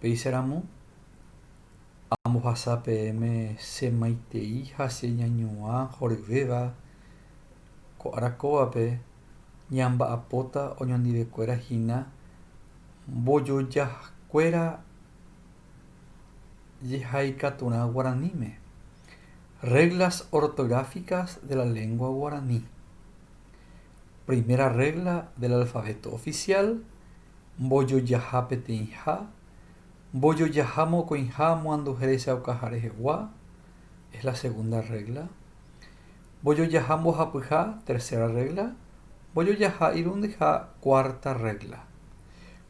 Péicha ramo, ambohasa peẽme che maitei ha che ñañuã horyvéva ko ára kóvape ñamba'apóta oñondivekuéra hína mbojojakuéra jehaikaturã guaraníme, Reglas ortográficas de la lengua guaraní. Primera regla del alfabeto oficial, Mbojojaha peteĩha, mbojojaha mokõiha amoanduhe rechaukaha rehegua, es la segunda regla. Mbojojaha mbohapyha, tercera regla. Mbojojaha irundyha, cuarta regla.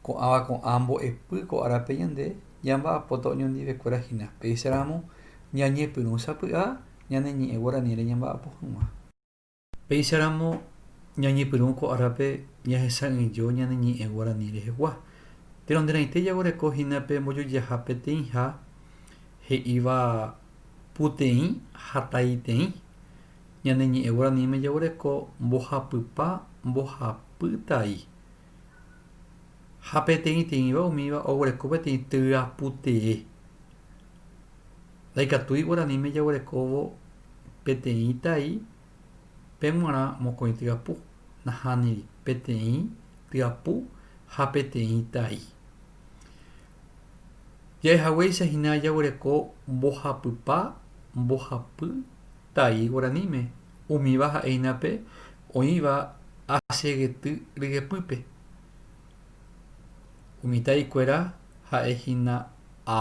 Ko'ãva ko'ã mbo'epy ko árape ñande ñamba'apóta oñondivekuéra hína, péicha ramo ñañepyrũ sapy'a ñane ñe'ẽ guaranĩre ñamba'apo hag̃ua. Péicharamo ñañepyrũ ko árape ñahesa'ỹijo ñane ñe'ẽ guarani rehegua. Péro nde raite jaguereko hína pe mbojojaha peteĩha he'íva puteĩ ha taiteĩ. Ñane ñe'ẽ guaraníme jaguereko mbohapypa, mbohapy tai. Ha peteĩteĩva umíva oguereko peteĩ tyaputee. Ndaikatúi guaraníme jaguerekóvo peteĩ tai pe g̃uarã mokõi tyapu, nahániri peteĩ tyapu ha peteĩ tai. Ja'ehaguéicha hína jaguereko mbohapypa, mbohapy tai guaraníme, umíva ha'e hína pe oĩva asyeguety ryepýpe. Umi taikuéra ha'e hína a.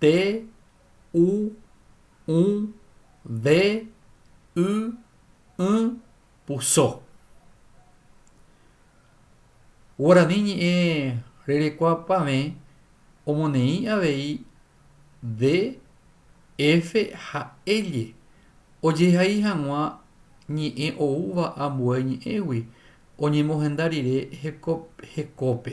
T, U, ũ, V, y, ỹ, puso. Guarani ñe'ẽ rerekuapavẽ omoneĩ avei D, F ha L ojehai hag̃ua ñe'ẽ oúva ambue ñe'ẽgui oñemohenda rire hekópe.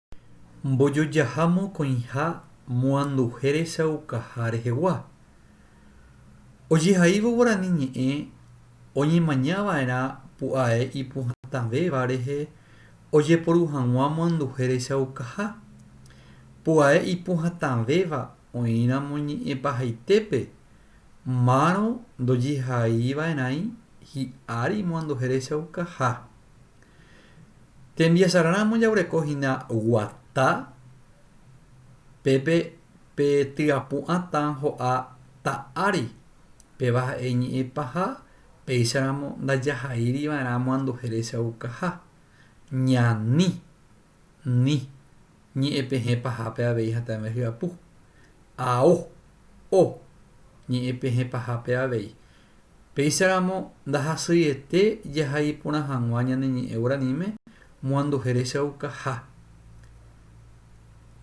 Mbojojaha mokõiha moanduhe rechaukaha rehegua. Ojehaívo guarani ñe'ẽ oñemaña va'erã pu'ae ipuhatãvéva rehe ojeporu hag̃ua moanduhe rechaukaha. Pu'ae ipuhatãvéva oĩramo ñe'ẽ pahaitépe, márõ ndojehai va'erãi hi'ári moanduhe rechaukaha. Tembiasararamo jaguereko hína guata, pépe pe tyapu'ãta ho'a ta ári, péva ha'e iñe'ẽ paha, péicharamo ndajahaíriva'erã amoanduhere chaukaha. Ñani. Ni. Ñe'ẽpehẽ pahápe avei ha ta'eme hyapu. Ao. O. Ñe'ẽpehẽ pahápe avei. Péicharamo ndahasyiete jaha iporã hag̃ua ñane ñe'ẽ guaraníme moanduhe rechaukaha.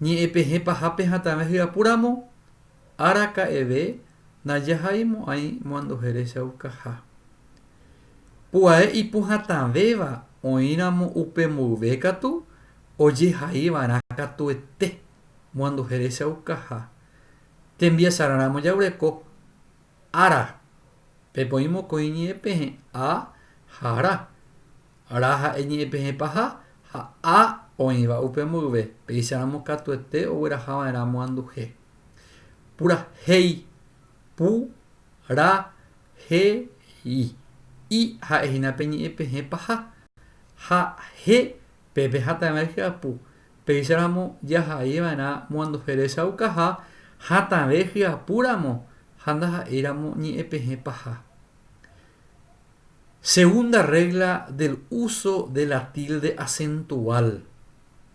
Ñe'ẽpehẽ pahápe ha ta'eme hyapu ramo. Araka'eve najahai mo'ãi moanduhere chaukaha. Pu'ae ipuhatãvéva oĩramo upe mboyve katu ojehaiva'erã katuete moanduhere chaukaha. Tembiasarã ramo jaguereko ára, pepoĩ mokõi iñe'ẽpehẽ a ha ra. Ra ha'e iñe'ẽpehẽ paha ha a oĩva upe mboyve, péicha ramo katuete oguerahava'erã moanduhe. Purahéi, pu, ra, he, i. I ha'e hína pe ñe'ẽ pehẽ paha. Ha, he, pe pehatãve hyapu. Péicharamo jahai va'erã moanduhe rechaukaha hatãve hyapu ramo ha ndaha'éi ramo ñe'ẽ pehẽ paha. Segunda regla del uso de la tilde acentual.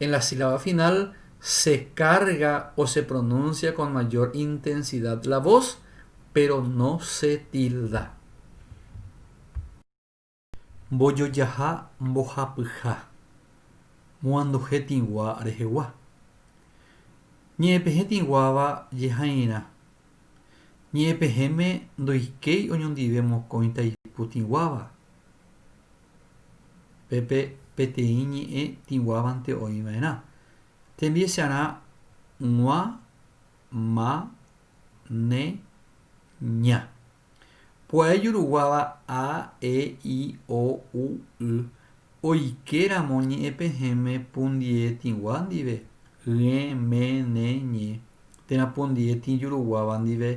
En la sílaba final se carga o se pronuncia con mayor intensidad la voz, pero no se tilda. Mbojojaha mbohapyha. Moanduhe tĩgua rehegua. Ñe'ẽpehẽ tĩguáva jehairã. Ñe'ẽpehẽme ndoikéi oñondive mokõi taipu tĩguáva. pe peteĩ ñe'ẽ tĩguávante oĩ va'erã. Tembiecharã g̃ua, ma, ne, ña. Pu'ae juruguáva a, e, i, o, u, y oike ramo ñe'ẽ pehẽme pu ndie tĩgua ndive, ỹe, me, ne, ñe, térã pu ndie tĩ juruguáva ndive,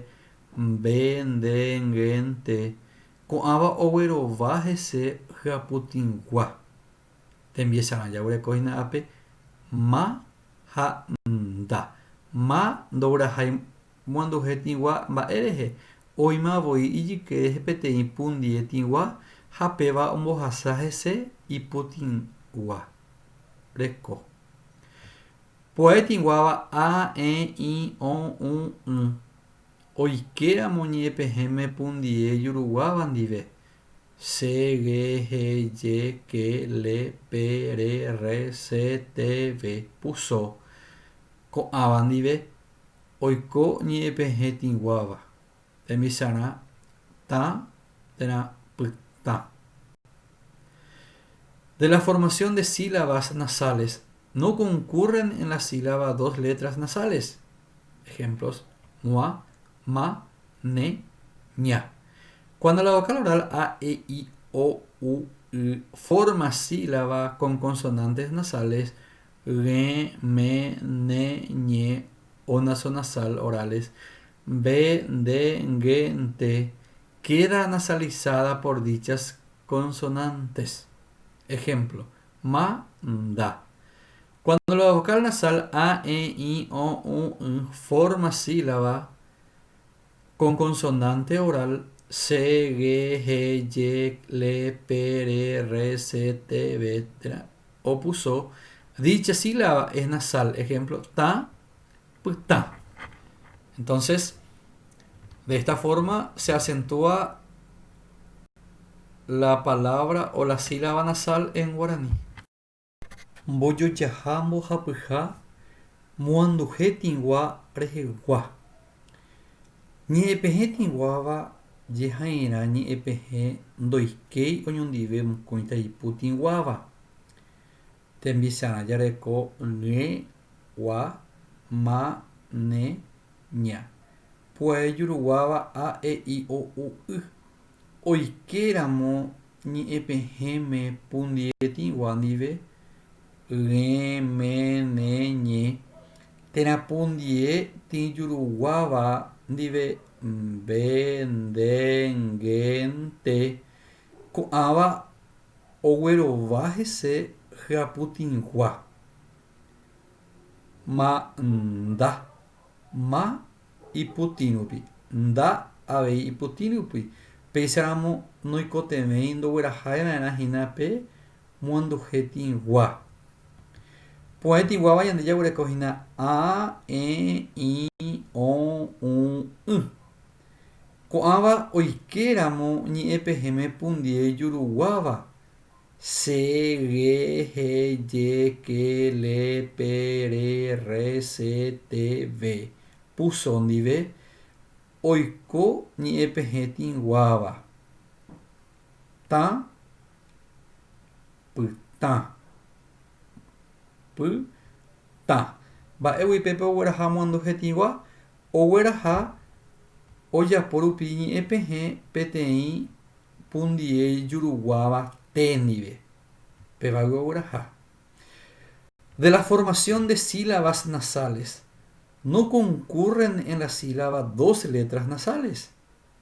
mbe, nde, nge, nte, Ko'ãva oguerova hese hyaputĩgua. Tembiesarã jaguereko hína ápe ma ha nda. Ma ndoguerahái moanduhe tĩgua mba'e rehe, oĩma voi ijyke rehe peteĩ pundie tĩgua ha péva ombohasa hese iputĩgua. Reko. Pu'ae tĩguáva a, ẽ, ĩ, õ, ũ, ỹ. Oikéramo ñe'ẽpehẽme pundie juruguáva ndive, se, ge, he, je, ke, le, pe, re, rre, se, te, ve, puso. Ko'ãva ndive, oiko ñe'ẽpehẽ tĩguáva, tembi'sarã, tã térã pytã. De la formación de sílabas nasales no concurren en la sílaba dos letras nasales. Ejemplos, mua, ma, ne, ña. Cuando la vocal oral a, e, i, o, u, y forma sílaba con consonantes nasales, gue, me, ne, ñe, o nasonasal orales, be, nde, ngue, nte, queda nasalizada por dichas consonantes. Ejemplo, Ma, nda. Cuando la vocal nasal a, e, i, o, u, y forma sílaba con consonante oral se, ge, he, yec, le, pe, re, rre, se, te, ve, tra, opuso, dicha sílaba es nasal, ejemplo, ta, Pytã. Entonces, de esta forma se acentúa la palabra o la sílaba nasal en guaraní. Mbojojaha mbohapyha moanduje tĩgua rehegua. Ñe'ẽpehẽ tĩguáva jeha'irã ñe'ẽpehẽ ndoikéi oñondive mokõita ipu tĩguáva. Tembisarã jareko ỹe, gua, ma, ne, ña. Pu'ae juruguáva a, e, i, o, u, y. Oike ramo ñe'ẽpehẽme pundietĩgua ndive, ỹe, me, ne, ñe, térã pundie tĩ juruguáva ndive, mbe, nde, nge, nte, Ko'ãva oguerova hese hyaputĩgua. Ma nda. Ma iputĩrupi. Nda avei iputĩrupi. Péicharamo noikotevẽi ndoguerahai va'erã hína pe moanduje tĩgua. Pu'ãi tĩguáva ñande jaguereko hína a, e, i, o, u, y. Ko'ãva oike ramo ñe'ẽ pehẽme pundie juruguáva, se, ge, he, je, ke, le, pe, re, rre, se, te, ve, puso ndive, oiko ñe'ẽ pehẽ tĩguáva, tã, pytã, py, tã. Mba'égui pépe ogueraha amoandu hetĩgua? Ogueraha ojapo rupi iñe'ẽpehẽ peteĩ pundie ijuruguáva te ndive. Pe vayve ogueraha. De la formación de sílabas nasales, no concurren en la sílaba dos letras nasales,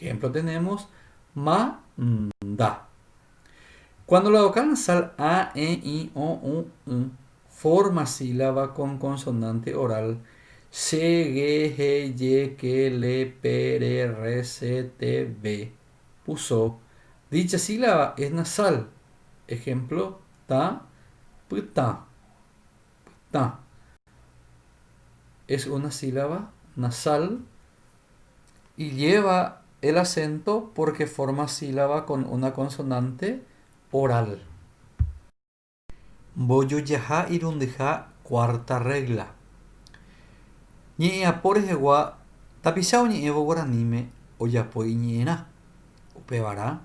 Ehémplo tenémos, ma, nda. Kuándo la vocal nasál a, e, i, o, u, y forma sílaba kon konsonánte oral, che, ge, he, je, ke, le, pe, re, rre, se, te, ve, puso, dicha sílaba es nasal, ehémplo, ta, pytã. Tã. Es una sílaba nasal y lleva el acento porque forma sílaba con una consonante oral. Mbojojaha irundyha cuarta regla. Ñe'ẽapo rehegua tapicha oñe'ẽvo guaraníme ojapo iñe'ẽrã. Upevarã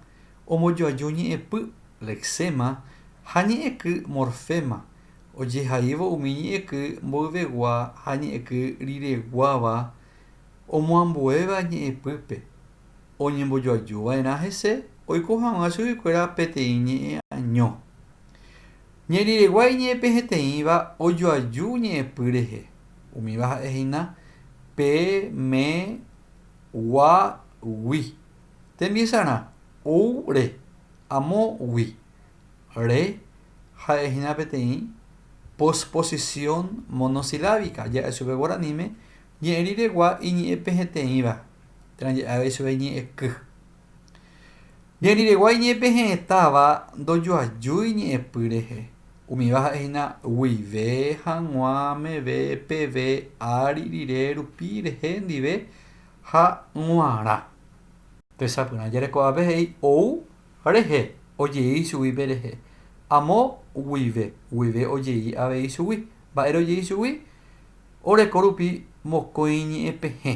ombojoaju ñe'ẽpy, lexema, ha ñe'ẽky, morfema, ojehaívo umi ñe'ẽky mboyvegua ha ñe'ẽky rireguáva omoambuéva ñe'ẽpýpe. Oñembojoaju va'erã hese oiko hag̃ua chuguikuéra peteĩ ñe'ẽaño. Ñe'ẽriregua iñe'ẽpehẽteĩva ojoaju ñe'ẽpy rehe, umíva ha'e hína pe, me, Guagui. Tembiesarã ou re. Amo gui. Re ha'e hína peteĩ posposición monosilábica ja'e chupe guaraníme ñe'ẽriregua iñe'ẽpeheteĩva térã ja'e avei chupe iñe'ẽky. Ñanderegua iñe'ẽpe he'ẽtáva ndojoajúi ñe'ẽpy rehe. Umíva ha'e hína guive, hag̃ua, meve, peve, ári, rire, rupi, rehe, ndive ha g̃uarã. Tesapyrã jareko'ápe he'i ou rehe ojei chugui pe rehe. Amo guive, guive ojei avei chugui. Mba'ére ojei chugui? Oreko rupi mokõi ñe'ẽpehẽ.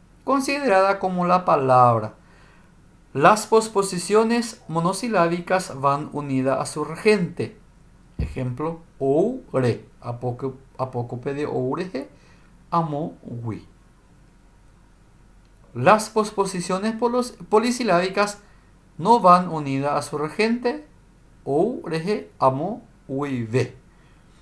Considerada como la palabra. Las posposiciones monosilábicas van unida a su rgente. Ejemplo, ou, re, apóco, apócope de ou rehe, amo, gui. Las posposiciones polos, polisilábicas no van unida a su rgente, ou, rehe, amo, guive.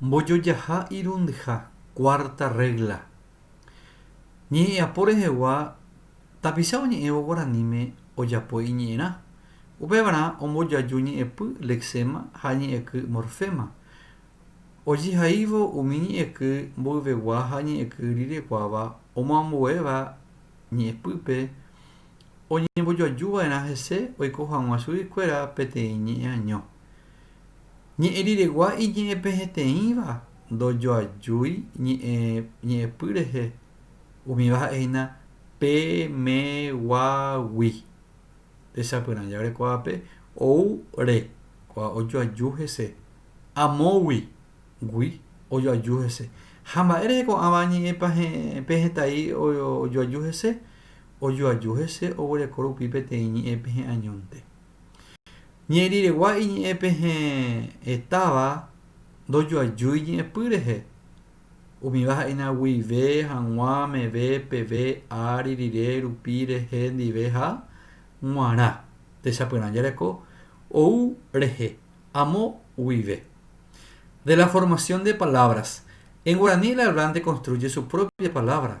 Mbojojaha irundyha, cuarta regla. Ñe'ẽ'apo rehegua tapicha oñe'ẽvo guaraníme ojapo iñe'ẽrã. Upévarã ombojoaju ñe'ẽpy, lexema, ha ñe'ẽky, morfema. Ojehaívo umi ñe'ẽky mboyvegua ha ñe'ẽky rireguáva omoambuéva ñe'ẽpýpe oñembojoajuva'erã hese oiko hag̃ua chuguikuéra peteĩ ñe'ẽaño. Ñe'ẽ riregua iñe'ẽpeheteĩva ndojoajúi ñe'ẽpy rehe, umíva ha'e hína pe meguagui. Techapyrã jave ko'ápe ou re ko'a ojoaju hese, amógui gui ojoaju hese. Ha mba'e rehe ko'ãva ñe'ẽpehetai ojoaju hese? Ojoaju hese oguereko rupi peteĩ ñe'ẽpehe'añónte. Ñe'ẽriregua iñe'ẽ pehe'ẽtáva ndojoajúi ñe'ẽpy rehe. Umíva ha'éna guive, hag̃ua, meve, peve, ári, rire, rupi, rehe, ndive ha g̃uarã. Techapyrã jareko ou rehe, amo guive. De la formación de palabras. En guaraní el hablante construye su propia palabra.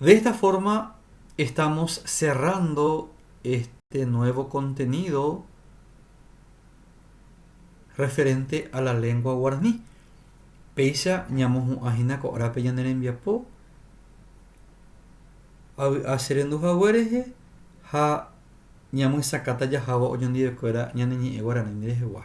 De esta forma estamos cerrando este nuevo contenido referente a la lengua guaraní. Péicha ñamohu'ã hína ko árape ñane rembiapo avy'a che rendu hague rehe ha ñamyesakãta jahávo oñondive kuéra ñane ñe'ẽ guaraní rehegua.